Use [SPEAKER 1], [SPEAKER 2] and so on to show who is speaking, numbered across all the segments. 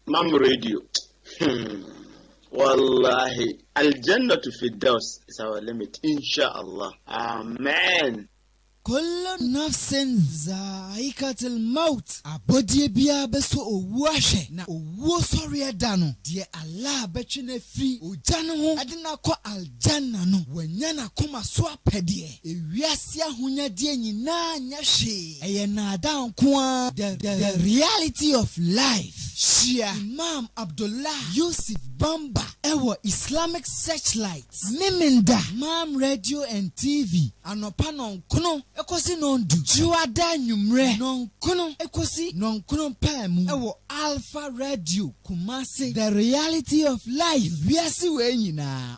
[SPEAKER 1] Mam radio. Hmm. Wallahi. Aljanna to Firdaus is our limit. Inshallah. Amen. Kullu
[SPEAKER 2] nafsin zaikatil maut, abɔdeɛ biara bɛsɔ owuo ahwɛ, na owuo sɔreɛ da no, deɛ Allah bɛtwe no afiri ogya no ho de no akɔ Aljanna no, wanya n'akoma so apɛdeɛ. Ewiase ahonyadeɛ nyinaa nyɛ hwee, ɛyɛ nnaadaa nko ara. The The Reality of Life, Hyia Imam Abdullah Yusuf Bamba wɔ Islamic Searchlight, Memenda, Mam Radio and TV, anɔpa nnɔnkono kɔsi nnɔndu, Dwoada anwummerɛ nnɔnkono kɔsi nnɔnkono paa mu wɔ Alpha Radio, Kumasi. The Reality of Life, Wiase wei nyinaa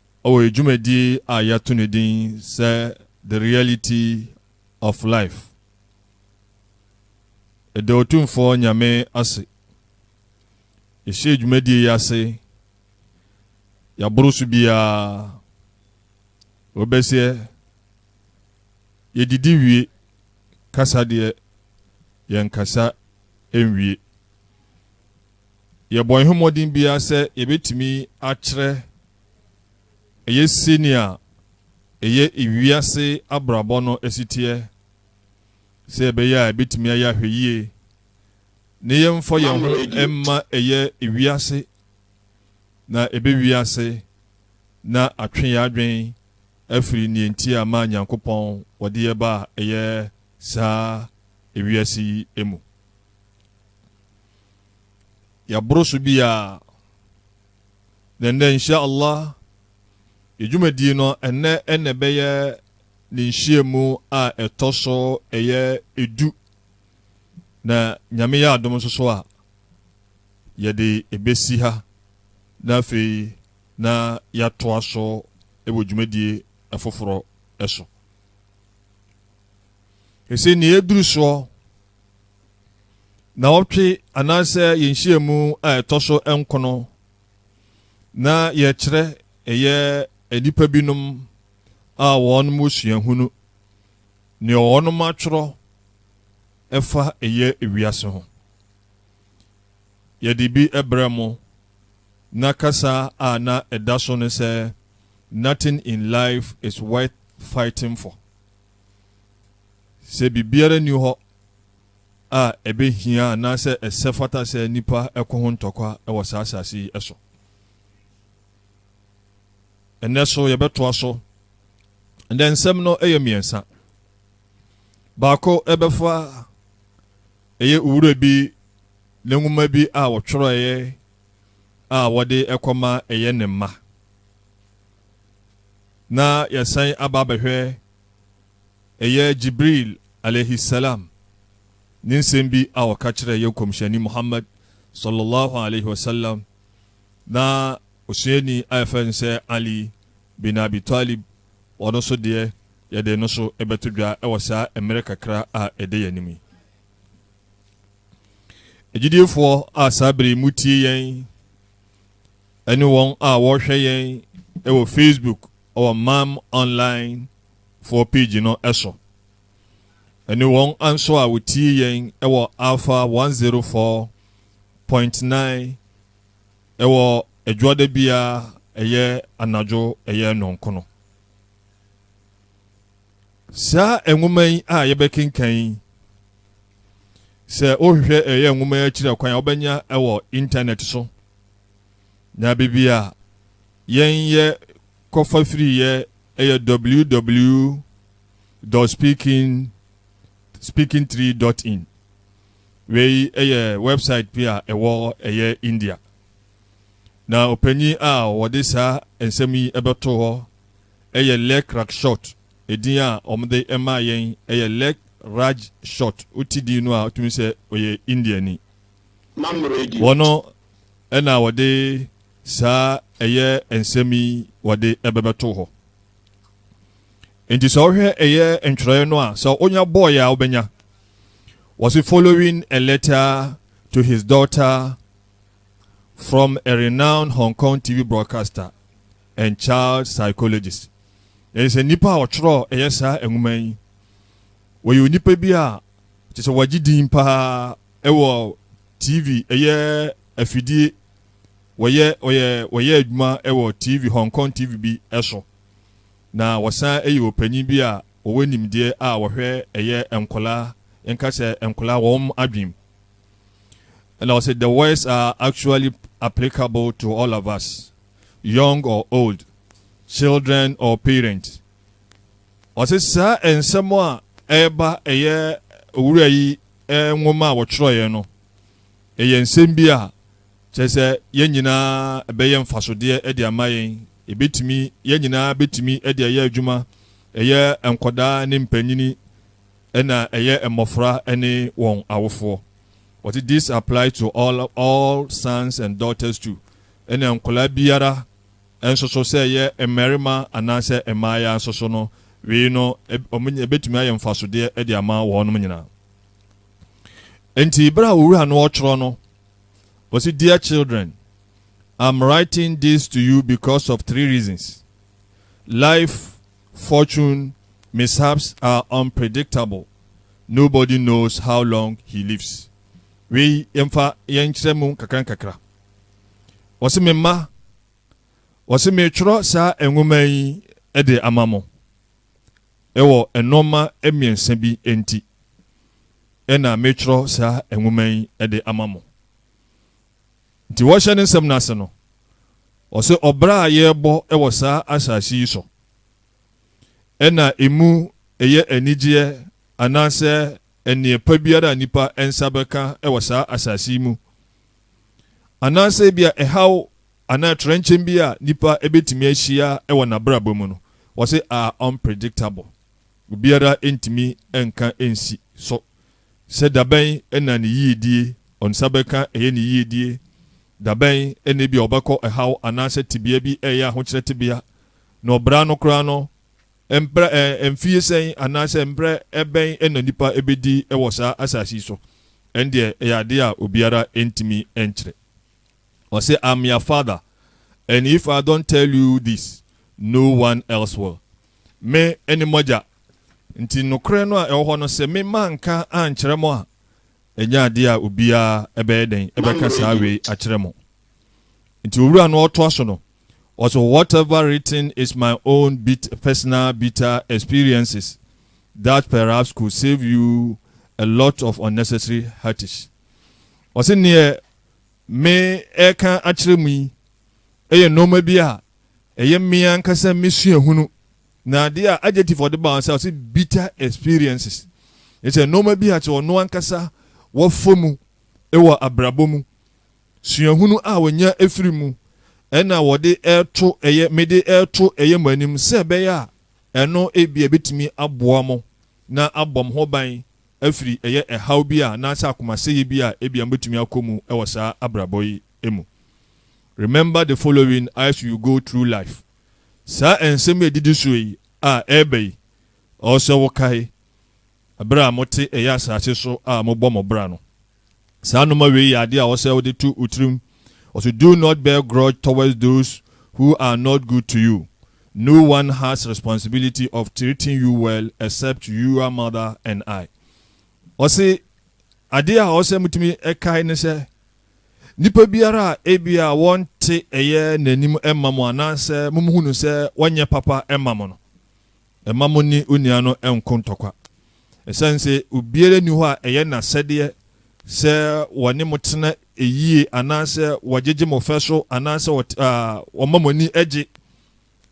[SPEAKER 3] wɔ dwumadi a yɛato no din sɛ The Reality of Life. Ɛda Otumfoɔ Nyame ase. Yɛhyɛɛ dwumadie yi ase, yɛaboro so biara, wɔbɛseɛ, yɛdidi wie, kasa deɛ yɛnkasa nwie. yɛbɔ yɛn ho mmɔden biara sɛ yɛbɛtumi akyerɛ ɛyɛ sɛnea ɛyɛ ewiase abrabɔ no asiteɛ sɛ ɛbɛyɛ a ɛbɛtumi ayɛ ahwɛ yie ne yɛmfa yɛn ho mma ɛyɛ ewiase na ɛbɛ wiase na atwe yɛ adwen afiri neɛ nti a ma nyankopɔn wɔde yɛ ba a ɛyɛ saa ewiase yi mu. yɛaboro so biara. Na nnɛ, insha Allah, yɛ dwumadie no ɛnnɛ ɛna ɛbɛyɛ ne nhyiamu a ɛtɔ so ɛyɛ edu. Na nyame yɛ adom nso so a, yɛde ɛbɛsi ha na afei na yɛatoa so wɔ dwumadie ɛfoforɔ ɛso. Ɛsɛ nea ɛduru soɔ naawɔtwe anaasɛ yɛn nhyiamu a ɛtɔ so nkono na yɛkyerɛ ɛyɛ nnipa binom a wɔn mu suahunu nea wɔn atwerɛ ɛfa ɛyɛ wiase ho yɛde bi ɛbrɛ mo na kasa a na ɛda so no sɛ nothing in life is worth fighting for Sɛ biribiara nni hɔ a ɛbɛhia anaasɛ ɛsɛ fata sɛ nnipa ko ho ntɔkwa wɔ saa asase yi so. Ɛnɛ so yɛbɛtoa so. Ɛnɛ nsɛm no yɛ mmiɛnsa. Baako ɛbɛfa ɛyɛ owura bi ne nwoma bi a wɔtwerɛeɛ a wɔde ɛkɔma ɛyɛ ne mma. Na yɛasan aba abɛhwɛ ɛyɛ Jibril alaihi salaam ne nsɛm bi a ɔka kyerɛɛ yɛn Nkɔmhyɛni Muhammad sɔlɔlɔhu alaihi wasalam, na osuani a yɛfrɛ no sɛ Ali bin Abi Talib, ɔno nso deɛ yɛde ɛno nso bɛto dwa wɔ saa mmerɛ kakra a ɛda yɛn anim yi. Agyidiefoɔ a saa berɛ yi motie yɛn ne wɔn a wɔrehwɛ yɛn wɔ Facebook wɔ Mam Online foɔ page no so, ne wɔn nso a wɔtie yɛn wɔ Alpha 104.9 wɔ adwoada biara ɛyɛ anadwo ɛyɛ nnɔnkono. Saa nwoma yi a yɛbɛkenkan yi, Sɛ wohwehwɛ ɛyɛ nwoma yi akyiri kwan a wobɛnya wɔ intanɛt so na biribi a yɛn yɛ kɔfa firi yɛ ɛyɛ www speaking speaking tree dot in wei ɛyɛ website bi a ɛwɔ ɛyɛ india na ɔpanyin a wɔde saa nsɛm yi ɛbɛto hɔ ɛyɛ lek rakshot Edin a wɔde maa yɛn yɛ Leg Raj Shot, wo ti di no a wotumi sɛ ɔyɛ Indiani.
[SPEAKER 1] Wɔ no
[SPEAKER 3] na wɔde saa ɛyɛ nsɛm yi wɔde bɛbɛto hɔ. Enti sɛ wohwɛ ɛyɛ ntwerɛeɛ no a sɛ wonya bɔɔyɛ a wobɛnya. Wɔse following a letter to his daughter from a renowned Hong Kong TV broadcaster. and Child Psychologist. Ɛne sɛ nipa a ɔtwerɛɔ ɛyɛ saa nwoma yi, wɔyɛ onipa bi a kyɛ sɛ wɔagye din paa ɛwɔ TV ɛyɛ afidie wɔyɛ wɔyɛ wɔyɛ adwuma ɛwɔ TV Hong Kong TV bi ɛso na wɔsan ɛyɛ ɔpanyin bi a wɔwɔ nimdeɛ a wɔhwɛ ɛyɛ nkɔlaa nka sɛ nkɔlaa wɔn adwene mu ɛna wɔsɛ the words are actually applicable to all of us young or old, children or parents. Ɔse saa nsɛm a ɛreba ɛyɛ owura yi nwoma a wɔtwerɛeɛ no, ɛyɛ nsɛm bi a kyerɛ sɛ yɛn nyinaa ɛbɛyɛ mfasodeɛ de ama yɛn. Ɛbɛtumi, yɛn nyinaa bɛtumi de ayɛ adwuma, ɛyɛ nkɔdaa ne mpanyini, ɛna ɛyɛ mmɔfra ne wɔn awofoɔ. Ɔte this apply to all, all sons and daughters too. Ɛnna nkwadaa biara, nso so, sɛ ɛyɛ mmarima anaasɛ mmayeaa nso so no, wei no, wɔn, ɛbɛtumi ayɛ mfasodeɛ de ama wɔnom nyinaa. Enti, berɛ a Owura no ɔtwerɛ no, ɔsi, Dear children, I'm writing this to you because of three reasons. Life, fortune, mishaps are unpredictable. Nobody knows how long he lives. Wei, yɛmfa yɛnkyerɛ mu nkakra nkakra. Wɔse me mma, wɔse meretwerɛ saa nwoma yi de ama mo. Ɛwɔ nnoɔma mmiɛnsa bi nti ɛna meretwerɛ saa nwoma yi de ama mo. Nti wɔhyɛ ne nsɛm no ase no, wɔse ɔbra a yɛrebɔ wɔ saa asase yi so ɛna emu ɛyɛ anigyeɛ anaasɛ nneɛ pa biara a nnipa nsa bɛka wɔ saa asase yi mu, anaasɛ ebia ɛhaw anaa trɛnkyɛm bi a nipa bɛtumi ahyia wɔ nabrabɔ mu no, wɔse are unpredictable, obiara ntumi nka nsi so sɛ dabɛn na ne yiedie, ɔnsa bɛka ɛyɛ ne yiedie, dabɛn na ebia ɔbɛkɔ ɛhaw anaasɛ tebea bi ɛyɛ ahokyerɛ tebea, na ɔbra no koraa no, Mprɛ, mfeɛ sɛn anaasɛ mprɛ bɛn na nnipa bɛdi wɔ saa asase yi so? Ɛndeɛ ɛyɛ adeɛ a obiara ntumi nkyerɛ. Ɔse, I'm yr father and if I don't tell you this, no one else will. Me ne moagya, nti nokorɛ no a ɛwɔ hɔ no sɛ me manka ankyerɛ mo a, ɛnyɛ adeɛ a obiara bɛyɛ dɛn bɛka saa wei akyerɛ mo. Nti owura no ɔtoa so no, Ɔse whatever written is my own bit personal bitter experiences that perhaps could save you a lot of unnecessary heartaches. Ɔse neɛ me ɛreka akyerɛ mu yi ɛyɛ nnoɔma bi a ɛyɛ me ankasa me suahunu na adeɛ a adjective ɔde ba ɔsɛ ɔse bitter experiences ɛsɛ nnoɔma bi a kyɛ ɔno ankasa wɔfɔ mu ɛwɔ abrabɔ mu Suahunu a wɔnya firi mu na wɔde reto ɛyɛ mede reto ɛyɛ mo anim sɛ ɛbɛyɛ a ɛno ebia ɛbɛtumi aboa mo na abɔ mo ho ban afiri ɛyɛ ɛhaw bi a anaasɛ akomasɛeɛ bi a ebia mobɛtumi akɔ mu wɔ saa abrabɔ yi mu. Remember the following as you go through life, Saa nsɛm a ɛdidi soɔ yi a ɛreba yi, ɔwɔ sɛ wokae, Bere a mote ɛyɛ asase so a mobɔ mo bra no, saa nnoɔma wei yɛ adeɛ a ɔsɛ wode to wo tirim, ɔse, Do not bear grudge towards those who are not good to you, no one has responsibility of treating you well except your mother and I. Ɔse, adeɛ a ɔsɛ motumi kae ne sɛ, nipa biara a ebia wɔnte ɛyɛ n'anim mma mo anaasɛ mohu no sɛ wɔnyɛ papa mma mo no, Mma mo ne onua no nko ntɔkwa, esiane sɛ obiara nni hɔ a ɛyɛ n'asɛdeɛ sɛ wɔne mo tena yie anaasɛ wɔgyegye mo fɛ so anaasɛ wɔma mo ani gye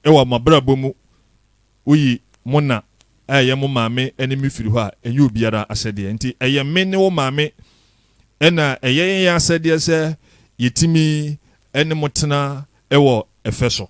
[SPEAKER 3] wɔ mo abrabɔ mu. Woyi mo na a ɛyɛ mo maame ne me firi hɔ a, ɛnyɛ obiara asɛdeɛ. Nti ɛyɛ me ne wo maame na ɛyɛ yɛn asɛdeɛ sɛ yɛtumi ne mo tena wɔ ɛfɛ so.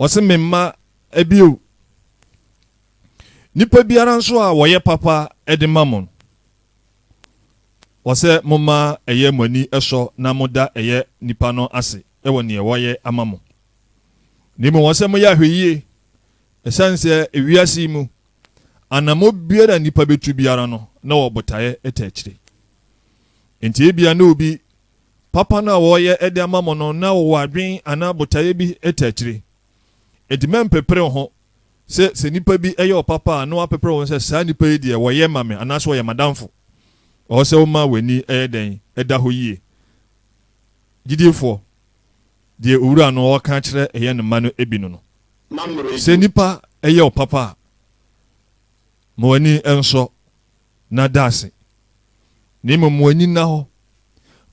[SPEAKER 3] Ɔse me mma bio. Nipa biara nso a wɔyɛ papa de ma mo no, ɔsɛ moma ɛyɛ mo ani sɔ na moda ɛyɛ nipa no ase wɔ neɛ wɔyɛ ama mo. Na mmom ɔsɛ moyɛ ahwɛyie, ɛsiane sɛ ewiase yi mu, anamɔ biara a nipa bɛtu biara no, na wɔ botaeɛ ta akyire. Nti ebia na obi papa no a wɔreyɛ de ama mo no na wɔwɔ adwene anaa botaeɛ bi te akyire. Enti mɛmpepere ho sɛ sɛ nnipa bi yɛ wo papa a na wɔapepere wo ho sɛ saa nnipa yi deɛ wɔyɛ ma me anaasɛ wɔyɛ m'adamfo. Ɛwɔ sɛ woma w'ani yɛ dɛn? Ɛda hɔ yie. Gyidiefoɔ, deɛ Owura no ɔreka akyerɛ yɛn ne mma no bi no no, sɛ nnipa yɛ wo papa a, ma w'ani nsɔ na da ase, na mmom wɔn ani nna hɔ.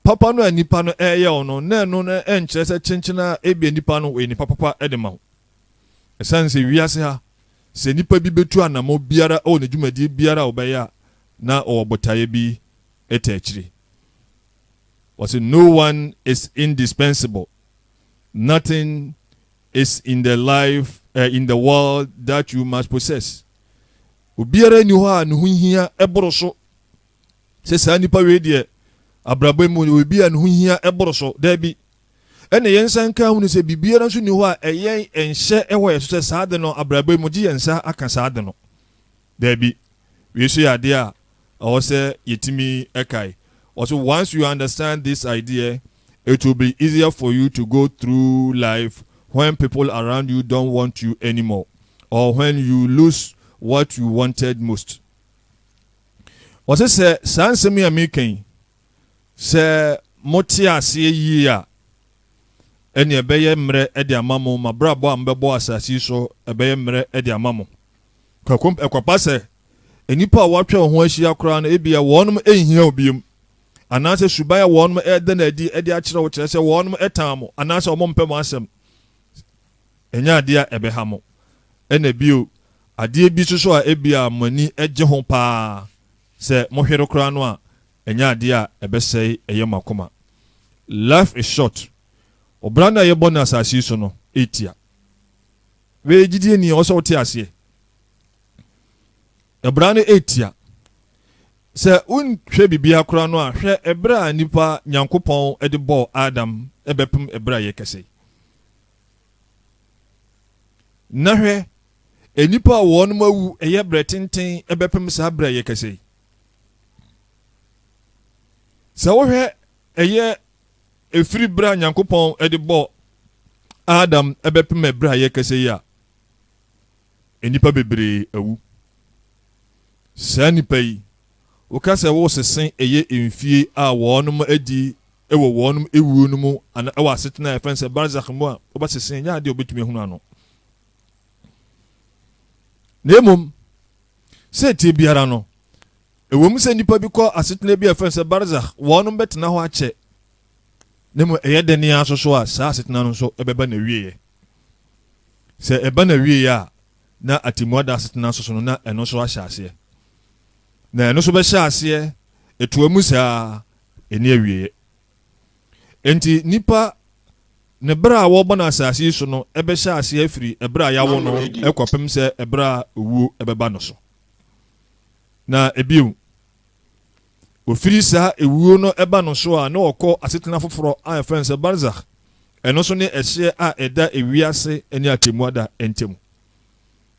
[SPEAKER 3] Papa no a nnipa no reyɛ wo no, na ɛno nkyerɛ sɛ kyenkyen ara ebia nnipa no wɔyɛ nnipa papa de ma wo. Esiane sɛ wiase ha sɛ nnipa bi betu anammɔn biara wɔ ne dwumadi biara a wɔbɛyɛ a, na wɔwɔ botaeɛ bi ta akyire. Wɔse no one is indispensable, nothing is in the life, uh, in the world that you must possess. Obiara nni hɔ a ne ho hia boro so sɛ saa nipa wei deɛ abrabɔ mu ɔyɛ obi a ne ho hia boro so. Daabi. Ɛna yɛn nsa nka hunu sɛ biribiara nso nni hɔ a ɛyɛ nhyɛ wɔ yɛn so sɛ saa de no abrabɔ mu gye yɛn nsa aka saa de no. Daabi. Wei nso yɛ adeɛ a ɛwɔ sɛ yɛtumi kae. Ɔse once you understand this idea, it will be easier for you to go through life when people around you don't want you anymore or when you lose what you wanted most. Ɔse sɛ saa nsɛm yi a meka yi, sɛ mote aseɛ yie a, ɛne ɛbɛyɛ mmerɛ de ama mo, mabrabɔ a mobɛbɔ asase yi so ɛbɛyɛ mmerɛ de ama mo. Kwaku, Ɛkwapa sɛ nnipa a wɔatwa wo ho ahyia koraa no, ebia wɔnom nhia wo biom, anaasɛ suban a wɔnom reda no adi de akyerɛ wo kyerɛ sɛ wɔnom tan mo anaasɛ wɔmpɛ mo asɛm nyɛ adeɛ a ɛbɛha mo. Ɛna bio, adeɛ bi soso a ebia mo ani gye ho paa, sɛ mohwere koraa no a, ɛnyɛ adeɛ a ɛbɛsɛe ɛyɛ mo akoma. Life is short. Ɔbra no a yɛbɔ no asase yi so no ɛtia. Wei gyidie ni ɔsɛ wote aseɛ. Ɛbra no ɛtia. Sɛ wonhwɛ bibia kora no a hwɛ ɛberɛ a nipa Nyankopɔn de bɔɔ Adam ɛbɛpem ɛberɛ a yɛ kɛsɛi. Na hwɛ ɛnipa a wɔnom awu ɛyɛ berɛ tenten ɛbɛpem saa berɛ a yɛ kɛsɛi. Sɛ wohwɛ ɛyɛ Ɛfiri berɛ a Nyankopɔn de bɔɔ Adam bɛpem ɛberɛ a yɛrekasa yi a, nnipa bebree awu. Saa nnipa yi, woka sɛ woresese ɛyɛ mfie a wɔnom adi wɔ wɔnom awuo no mu anaa ɛwɔ asetena a yɛfrɛ no sɛ Barzakh mu a, wobɛsese, ɛnyɛ adeɛ a wobɛtumi ahunu ano. Na mmom, Sɛntia biara no, ɛwom sɛ nnipa bi kɔ asetena bi a ɛfrɛ sɛ barzakh, wɔnom bɛtena hɔ akyɛ, na mmom ɛyɛ dɛn ara nso so a saa asetena no nso ɛbɛba n'awieɛ. Sɛ ɛba n'awieɛ a, na atemmuada asetena nso so no, na ɛno nso ahyɛ aseɛ. Na ɛno nso bɛhyɛ aseɛ, ɛtoa mu saa, ɛnni awieɛ. Enti nnipa ne bere a wɔbɔ no asase yi so no bɛhyɛ ase afiri bere a yɛawo no kɔpem sɛ bere a owuo bɛba no so. Na bio, ofiri saa ewuo no ba no so a na ɔkɔ asetena foforɔ a yɛfrɛ no sɛ Barzakh, ɛno nso ne ɛhyeɛ a ɛda ewiase ne atemmuada ntam.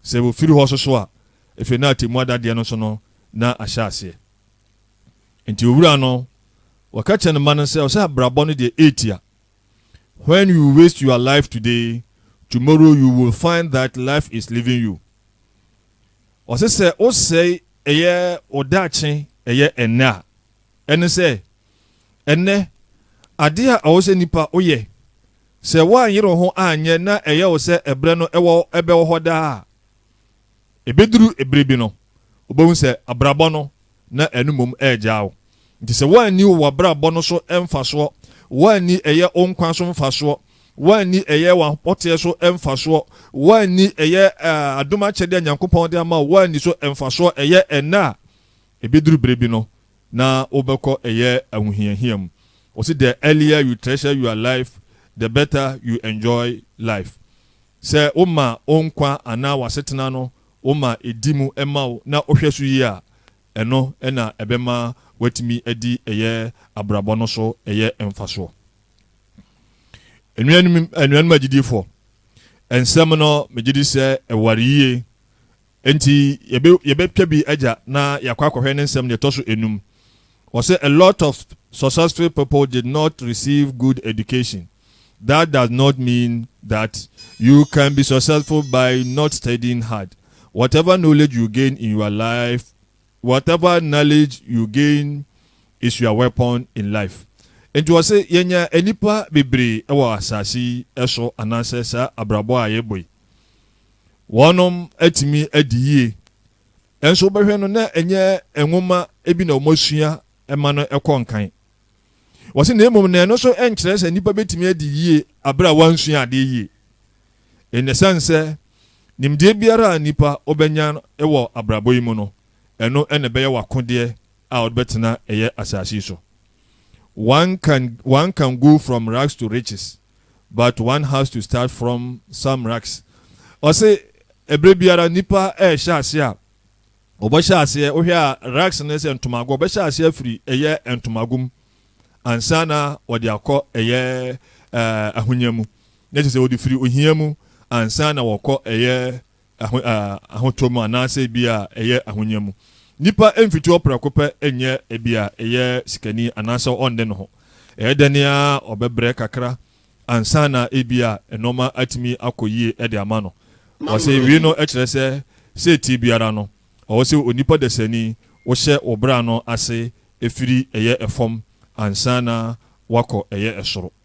[SPEAKER 3] Sɛ wɔfiri hɔ nso so a, afei na atemmuada deɛ no nso no na ahyɛ aseɛ. Enti owura no, wɔka kyerɛ ne mma no sɛ, ɔsɛ abrabɔ no deɛ ɛretia. When you waste your life today, tomorrow you will find that life is leaving you. Ɔsɛ sɛ wosɛe ɛyɛ wo daakye ɛyɛ ɛnnɛ a, ɛne sɛ, ɛnnɛ, adeɛ a ɛwɔ sɛ nipa woyɛ, sɛ woanyere wo ho anyɛ na ɛyɛ wo sɛ ɛberɛ no ɛwɔ ɛbɛwɔ hɔ daa a, ɛbɛduru ɛberɛ bi no, wobɛhu sɛ abrabɔ no na ɛno mmom regyaa wo. Nti sɛ woanni wo w'abrabɔ no so mfasoɔ, woanni ɛyɛ wo nkwa so mfasoɔ, woanni ɛyɛ w'apɔteɛ so mfasoɔ, woanni ɛyɛ adom akyɛdeɛ a Nyankopɔn de ama wo, woanni so mfasoɔ ɛyɛ ɛnnɛ a, ɛbɛduru berɛ bi no na wobɛkɔ ɛyɛ ahohiahia mu. Wɔse the earlier you treasure your life, the better you enjoy life. Sɛ woma wo nkwa anaa w'asetena no Woma edi mu ma wo na wohwɛ so yie a, ɛno na ɛbɛma woatumi adi ɛyɛ abrabɔ no so ɛyɛ mfasoɔ. Anuanom anuanom agyidifoɔ, nsɛm no megye di sɛ ɛware yie, enti yɛbɛ yɛbɛtwa bi agya na yɛakɔ akɔhwɛ ne nsɛm deɛ ɛtɔ so enum. Ɔse a lot of successful people did not receive good education, that does not mean that you can be successful by not studying hard, whatever knowledge you gain in your life whatever knowledge you gain is your weapon in life Nti ɔse yɛnya nnipa bebree wɔ asase yi so anaasɛ saa abrabɔ a yɛbɔ yi wɔnom atumi adi yie Nanso wobɛhwɛ no na ɛnyɛ nwoma bi na wɔasua ma no kɔ nkan. Wɔse na mmom na ɛno nso nkyerɛ sɛ nnipa bɛtumi adi yie berɛ a wɔansua adeɛ yie. Nnɛ ɛsiane sɛ nimdeɛ biara a nnipa wobɛnya wɔ abrabɔ yi mu no, ɛno na ɛbɛyɛ w'akodeɛ a wode bɛtena ɛyɛ asase yi so. One can, one can go from rags to riches. but one has to start from some racks ɔse ɛberɛ biara nipa ɛɛhyɛ aseɛ a ɔbɛhyɛ aseɛ wohwɛ a racks no sɛ ntomago ɔbɛhyɛ aseɛ afiri ɛyɛ ntomago mu ansa na ɔde akɔ ɛyɛ ɛɛ ahonya mu na kyerɛ sɛ ɔde firi ohia mu ansa na wɔkɔ ɛyɛ ahotɔ mu anaasɛ ebia ɛyɛ ahonya mu. Nnipa mfiti hɔ prɛko pɛ nyɛ ebia ɛyɛ sikani anaasɛ ɔnne ne ho. Ɛyɛ dɛ ne ara ɔbɛbrɛ kakra ansa na ebia nneɛma atumi akɔ yie de ama no. Wɔse wii no kyerɛ sɛ setie biara no ɔwɔ sɛ onipa dasani wohyɛ wo bra no ase firi ɛyɛ fam ansa na woakɔ ɛyɛ soro.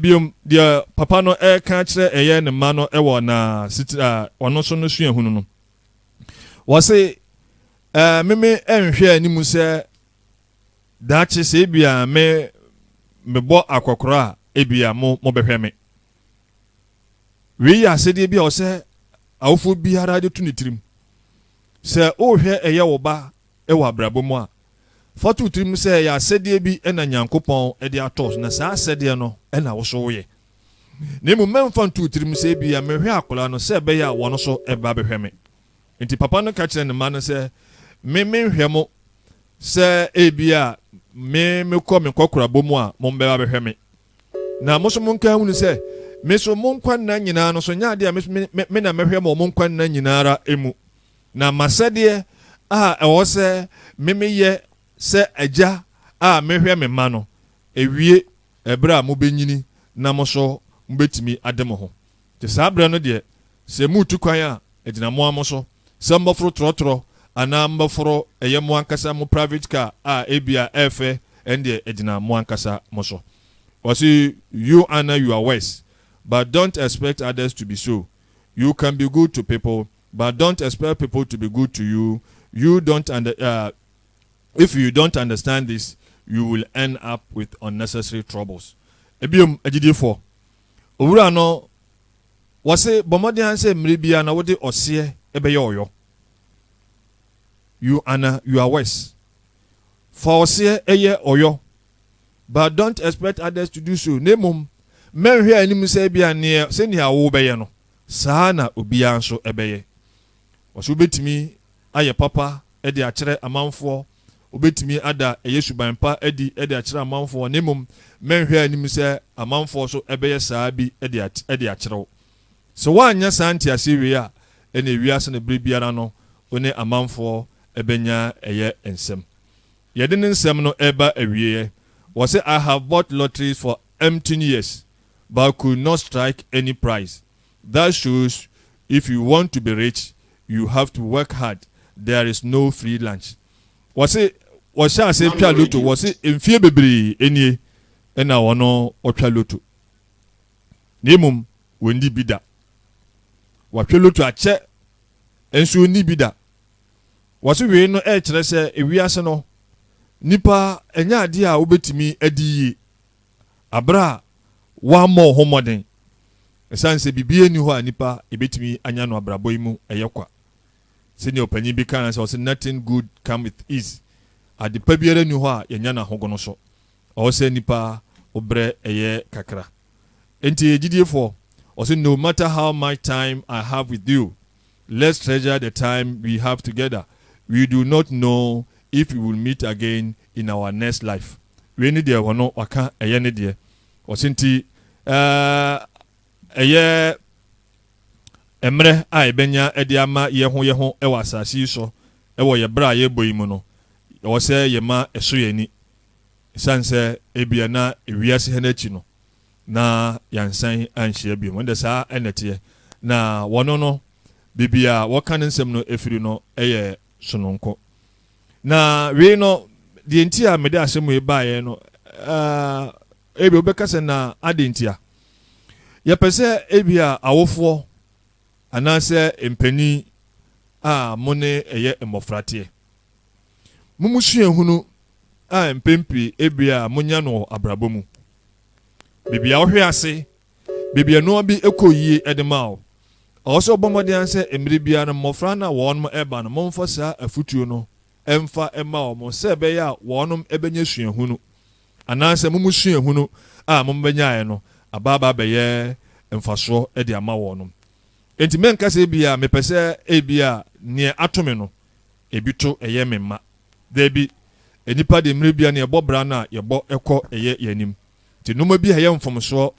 [SPEAKER 3] Bio, deɛ papa no reka akyerɛ ɛyɛ ne mma no wɔ na sitire a ɔno nso no suahunu no. Wɔse, ɛɛ meme nhwɛ anim sɛ daakye sɛ ebia me mebɔ akɔkorɔ a ebia mo mobɛhwɛ me. Wei yɛ asɛdeɛ bi a ɔsɛ awofoɔ biara de to ne tirim. Sɛ wohwɛ ɛyɛ wo ba wɔ abrabɔ mu a, fa to wo tirim sɛ ɛyɛ asɛdeɛ bi na Nyankopɔn de atɔ wo so, na saa asɛdeɛ no na wo nso woyɛ. Na mmom mɛmfa nto wo tirim sɛ ebia mehwɛ akwadaa no sɛ ɛbɛyɛ a wɔn nso bɛba abɛhwɛ me. Enti papa no ka kyerɛɛ ne mma no sɛ, Me menhwɛ mo sɛ ebia me mekɔ me nkɔkorabɔ mu a mommɛba abɛhwɛ me. Na mo nso monka nhunu sɛ, me nso mo nkwa nna nyinaa no so, nyɛ adeɛ a me na mɛhwɛ mo wɔ mo nkwa nna nyinaa ara mu. Na m'asɛdeɛ a ɛwɔ sɛ me meyɛ sɛ agya a mehwɛ me mma no awie ɛberɛ a mobɛnyini na mo nso mobɛtumi ade mo ho. Nti saa berɛ no deɛ, sɛ moretu kwan a, ɛgyina mo ara mo so sɛ mobɛforo trɔtrɔ anaa mobɛforo ɛyɛ mo ankasa mo private car a ebia ɛyɛ fɛ, ɛno deɛ ɛgyina mo ankasa mo so. Ɔse, You Anna you are worse, but don't expect others to be so. you can be good to people but don't expect people to be good to you you don't under uh, if you don't understand this you will end up with unnecessary troubles ebiom agyidifo owura no wɔse bɔ mmɔden ara sɛ mmere biara na wode ɔseɛ ɛbɛyɛ ɔyɔ you ana you are worse fa ɔseɛ ɛyɛ ɔyɔ but don't expect others to do so, na mmom mɛnhwɛ anim sɛ ebia neɛ sɛnea wobɛyɛ no, saa na obiara nso bɛyɛ. Ɔse wobɛtumi ayɛ papa de akyerɛ amanfoɔ, wobɛtumi ada ɛyɛ suban pa adi de akyerɛ amanfoɔ, na mmom mɛnhwɛ anim sɛ amanfoɔ nso bɛyɛ saa bi de akyerɛ wo. Sɛ woanyɛ saa nteaseɛ wei a, ɛneɛ wiase no berɛ biara no wo ne amanfoɔ bɛnya ɛyɛ nsɛm. Yɛde ne nsɛm no reba awieɛ, wɔse I have bought lotteries for umpteen years but could not strike any prize, that shows if you want to be rich you have to work hard, there is no free lunch. Wɔse wɔhyɛɛ aseɛ twa loto, wɔse mfeɛ bebree nie na wɔn wɔtwa loto na mmom wɔnni bi da. Wahwɛ loto akyɛ nso ɔnni bi da. Wɔse wei no ɛrekyerɛ sɛ ewiase no nnipa ɛnyɛ adeɛ a wobɛtumi adi yie aberɛ a woammɔ wo ho mmɔden ɛsiane sɛ biribiara nni hɔ a nnipa yɛbɛtumi anya no abrabɔ yi mu ɛyɛ kwa. Sɛdeɛ ɔpanyin bi kaa sɛ ɔse nothing good come with ease, ade pa biara nni hɔ a yɛnya no ahogono so, ɔwɔ sɛ nnipa wo berɛ ɛyɛ kakra. Enti gyidiefoɔ, ɔse no matter how much time I have with you, Let's treasure the time we have together, we do not know if we will meet again in our next life. Wei ne deɛ ɔno waka ɛyɛ ne deɛ. Ɔse nti ɛyɛ mmerɛ a yɛbɛnya de ama yɛ ho yɛ ho wɔ asase yi sɔ wɔ yɛ berɛ a yɛbɔ yi mu no, ɛwɔ sɛ yɛma ɛso yɛ ani. Ɛsiane sɛ ebia na ewiase ha no akyi no, na yɛansan anhyia bio. Ɛnde saa na ɛteɛ. Na wɔn no, baabi a wɔka ne nsɛm no firi no yɛ sononko. Na wei no, deɛ nti a mede asɛm wei baeɛ no, ebi wobɛka sɛ na adɛn nti a yɛpɛ sɛ ebi a awofoɔ anaasɛ mpanin a mo ne ɛyɛ mmɔfra teɛ. Mo mu suahunu a mpɛn pii ebi a monya no wɔ abrabɔ mu Baabi a wohwe ase, baabi a nneɛma bi kɔ yie de ma wo. Ɛwɔ sɛ wobɔ mmɔden ara sɛ mmere biara no mmɔfra no a wɔreba no momfa saa afotuo no mfa mma wɔn sɛ ɛbɛyɛ a wɔbɛnya suahunu anaasɛ mo mu suahunu a mobɛnyaeɛ no aba aba abɛyɛ mfasoɔ de ama wɔn. Enti mɛnka sɛ ebia mepɛ sɛ ebia nea ato me no Ebi to ɛyɛ me mma. Dabi, nnipa de mmerɛ biara no yɛbɔ bra no a yɛbɔ kɔ ɛyɛ yɛn anim. Nti nnoɔma bi a ɛyɛ mfomsoɔ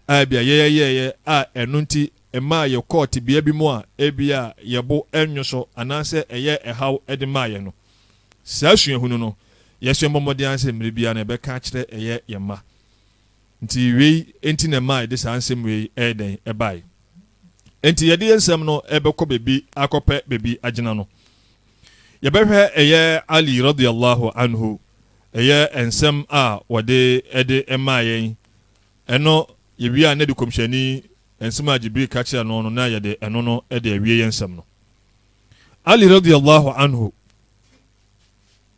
[SPEAKER 3] a ebia yɛyɛ yɛɛyɛ a ɛno nti ɛmaa yɛkɔɔ tebea bi mu a ebia yɛn bo nnwo so anaasɛ ɛyɛɛ ɛhaw de maa yɛn no, saa suahunu no, yɛsua bɔ mmɔden ara sɛ mmerɛ biara no yɛbɛka akyerɛ ɛyɛ yɛn mma. Nti wei nti na ɛmaa yɛde saa nsɛm wei ɛyɛ dɛn ɛbaeɛ. Nti yɛde yɛn nsɛm no ɛbɛkɔ baabi akɔpɛ baabi agyina no. Yɛbɛhwɛ ɛyɛ Ali radhi Allahu anhu ɛyɛ nsɛm a wɔde ɛde ɛmaa yɛn, ɛno yɛwie a na ɛde Kɔmhyɛni nsɛm a Jibril ka kyerɛ no no na yɛde ɛno no ɛde awie yɛn nsɛm no. Ali radhi Allahu anhu.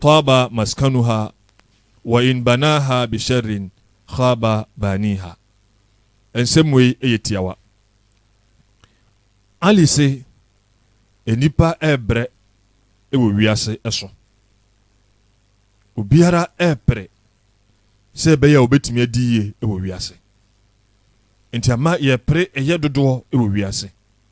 [SPEAKER 3] Taaba maskanuha wa in banaaha bi sharrin khaaba baaniiha. Nsɛm wei yɛ tiawa. Ali se, Nnipa rebrɛ wɔ wiase so. Obiara repere sɛ ɛbɛyɛ a obetumi adi yie wɔ wiase. Enti ama yɛpere yɛ dodoɔ wɔ wiase.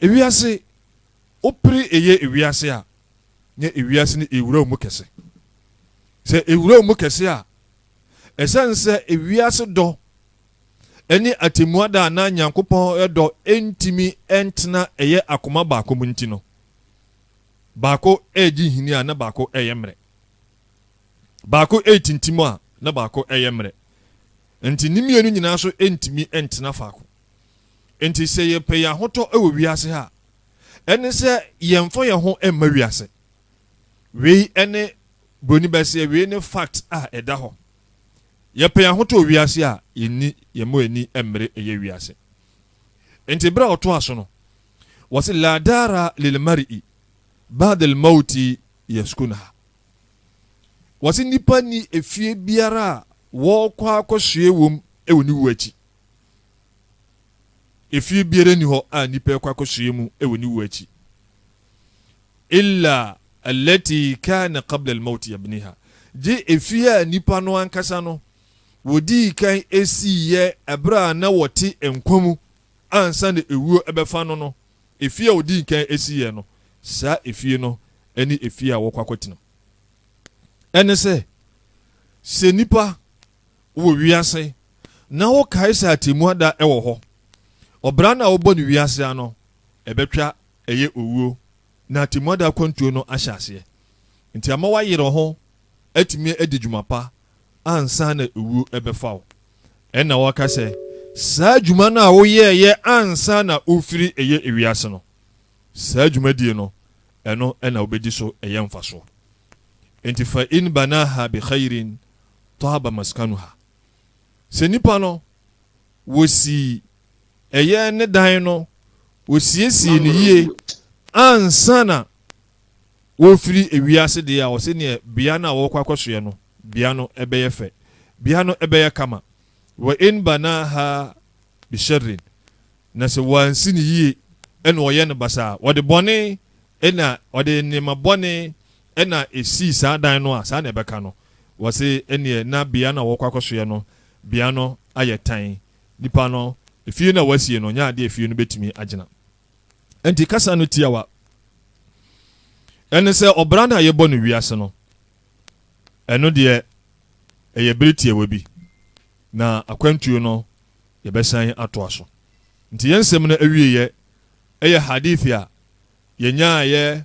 [SPEAKER 3] Ewiase, wopere eyɛ ewiase a, na ewiase no ewura wo mu kɛse. Sɛ ewura wo mu kɛse a, esiane sɛ ewiase dɔ ne atemmuada a na Nyankopɔn dɔ ntumi ntena ɛyɛ akoma baako mu nti no, baako regye nhini a na baako reyɛ mmerɛ. Baako retintim a na baako reyɛ mmerɛ. Nti ne mmienu nyinaa nso ntumi ntena faako. Enti sɛ yɛpɛ yɛn ahotɔ wɔ wiase ha a, ɛne sɛ yɛmfa yɛn ho mma wiase. Wei ne Buroni bɛseɛ, wei ne fact a ɛda hɔ. Yɛpɛ yɛn ahotɔ wɔ wiase a, yɛnni yɛn mu ani mmere ɛyɛ wiase. Enti berɛ a ɔtoa so no, wɔse la dara lilmari'i ba'da almawti yaskunuha. Wɔse nnipa nni efie biara a wɔkɔ akɔsoɛ wom wɔ ne wuo akyi. Efie biara nni hɔ a nnipa rekɔ akɔsoɛ mu wɔ ne wuo akyi illa allati kana qabla al-mawti yabniha, gye efie a nnipa no ankasa no wɔdii kan siiɛ berɛ a na wɔte nkwa mu ansa na ewuo bɛfa no no, efie a wɔdii kan siiɛ no, saa efie no ne efie a wɔrekɔ akɔtena. Ɛne sɛ, sɛ nnipa wɔ wiase na wokae sɛ atemmu ada wɔ hɔ. Ɔbra no a wɔbɔ no wiase ano ɛbɛtwa ɛyɛ owuo na atemmu ada akwantuo no ahyɛ aseɛ. Nti ama woayere wo ho atumi adi dwuma pa ansa na owuo ɛbɛfa wo. Ɛna wɔka sɛ saa dwuma no a woyɛɛyɛ ansa na wofiri ɛyɛ wiase no, saa dwumadie no ɛno ɛna wobɛdi so ɛyɛ mfasoɔ. Nti fa in banaha bi khairin Tahaba maskanuha, sɛ nipa no wɔsi ɛyɛ ne dan no wɔsiesie no yie ansa na wɔrefiri ewiase deɛ a ɔsɛ neɛ bea no a wɔrekɔ akɔsoɛ no bea no ɛbɛyɛ fɛ bea no ɛbɛyɛ kama wɔ in banaha bisharin na sɛ wɔansi no yie ɛna ɔyɛ no basaa ɔde bɔne ɛna ɔde nneɛma bɔne Ɛna esii saa dan no a saa na ɛbɛka no, wɔse ɛneɛ na bea no a wɔkɔ akɔsoɛ no bea no ayɛ tan, nipa no efie no a wɔasie no nyɛ adeɛ a efie no bɛtumi agyina. Ɛnti kasa no tiawa ɛne sɛ ɔbra no a yɛbɔ no wiase no, ɛno deɛ ɛyɛ bere tiawa bi, na akwantuo no yɛbɛsan atoa so. Nti yɛn nsɛm no awieɛ ɛyɛ hadith a yɛnyaayɛ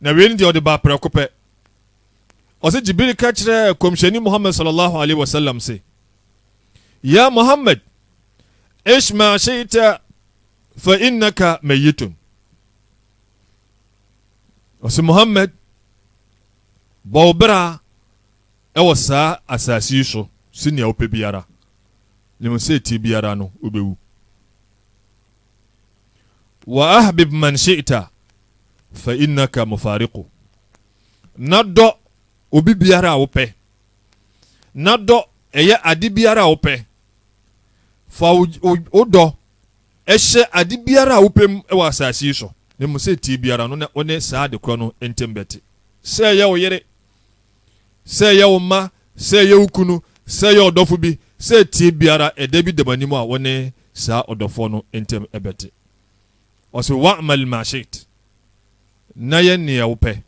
[SPEAKER 3] Na wei ne deɛ ɔde baa prɛko pɛ. Ɔse Jibril ka kyerɛɛ Kɔmhyɛni Muhammad sallallahu alaihi wasallam se, Ya Muhammad, ish ma shi'ta fa innaka mayyitun. Ɔse Muhammad, bɔ wo bra ɛwɔ saa asase yi so se nea wopɛ biara, nim sɛ tie biara no wobɛwu. Wa ahbib man shi'ta fa innaka mufariqu. Na dɔ obi biara a wopɛ. Na dɔ ɛyɛ ade biara a wopɛ. Fa wo dɔ ɛhyɛ ade biara a wopɛ mu wɔ asase yi so, na mmom sɛ tie biara no na wo ne saa ade korɔ no ntam bɛte. Sɛ ɛyɛ wo yere, Sɛ ɛyɛ wo mma, sɛ ɛyɛ wo kunu, sɛ ɛyɛ ɔdɔfo bi, sɛ ɛteɛ biara, ɛda bi da m'anim a wo ne saa ɔdɔfoɔ no ntam ɛbɛte. Ɔse, Wa'mal ma shi'it, na yɛ nea wopɛ,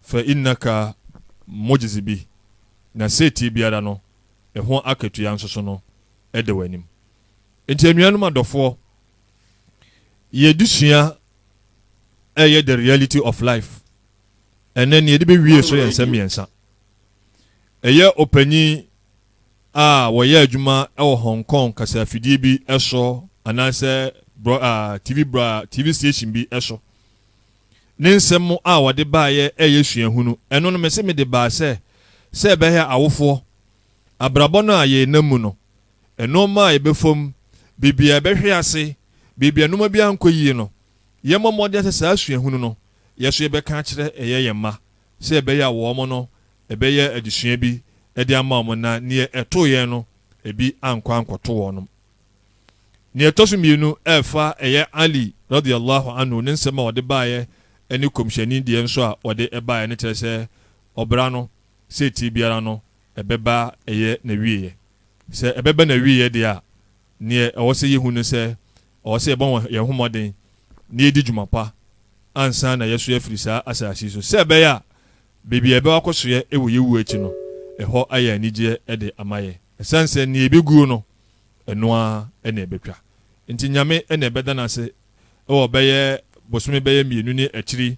[SPEAKER 3] fa innaka mujzi bi, na sɛ ɛteɛ biara no, ɛho akatua nso so no ɛda w'anim. Nti anuanom adɔfoɔ, yɛdesua ɛyɛ the reality of life. ɛnnɛ nea yɛde bewie so yɛ nsɛm mmiɛnsa. Ɛyɛ ɔpanyin a wɔyɛ adwuma wɔ Hong Kong kasafidie bi so anaasɛ TV bra TV station bi so. Ne nsɛm a wɔde baeɛ ɛyɛ suahunu. Ɛno no mese mede baa sɛ sɛ ɛbɛyɛ awofoɔ abrabɔ no a yɛnam mu no nnoɔma a yɛbɛfam biribi a ɛbɛhwe ase biribi a nnoɔma bi ankɔ yie no yɛmmɔ mmɔden sɛ saa suahunu no yɛ nso yɛbɛka akyerɛ ɛyɛ yɛn mma sɛ ɛbɛyɛ a wɔn no ɛbɛyɛ adesua bi de ama wɔn na neɛ ɛtoo yɛn no ebi ankɔ ankɔto wɔnom. Neɛ ɛtɔ so mmienu ɛɛfa ɛyɛ Ali radhi Allahu anhu ne nsɛm a ɔde baeɛ ɛne Kɔmhyɛni deɛ nso a ɔde baeɛ no kyerɛ sɛ ɔbra no sɛ ɛtie biara no ɛbɛba ɛyɛ n'awieɛ. Sɛ ɛbɛba n'awieɛ deɛ a neɛ ɛwɔ sɛ yɛhu ne sɛ Ɔwɔ sɛ yɛbɔ yɛn ho mmɔden na yedi dwuma pa ansa na yɛasoɛ afiri saa asase yi so, sɛ ɛbɛyɛ a baabi a yɛbɛkɔ akɔsoɛ wɔ yɛn wu akyi no, ɛhɔ ayɛ anigyeɛ de ama yɛn. Ɛsiane sɛ nea ebeguo no, ɛno ara na ebetwa nti, Nyame na yɛbɛda no ase wɔ bɛyɛ bosome bɛyɛ mmienu ne akyiri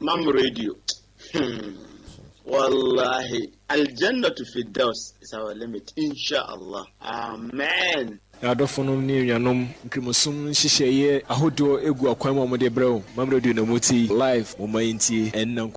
[SPEAKER 1] Mam radio. Hmm. Wallahi. Aljannatu fi daus is our limit. Inshallah. Amen. Yɛadɔfonom ne
[SPEAKER 4] anuanom, Nkramosom nhyehyɛeɛ ahodoɔ gu akwan mu a wɔde rebrɛ wo. Mam Radio na motie. Live. Momma yɛntie ɛnnɛ nko.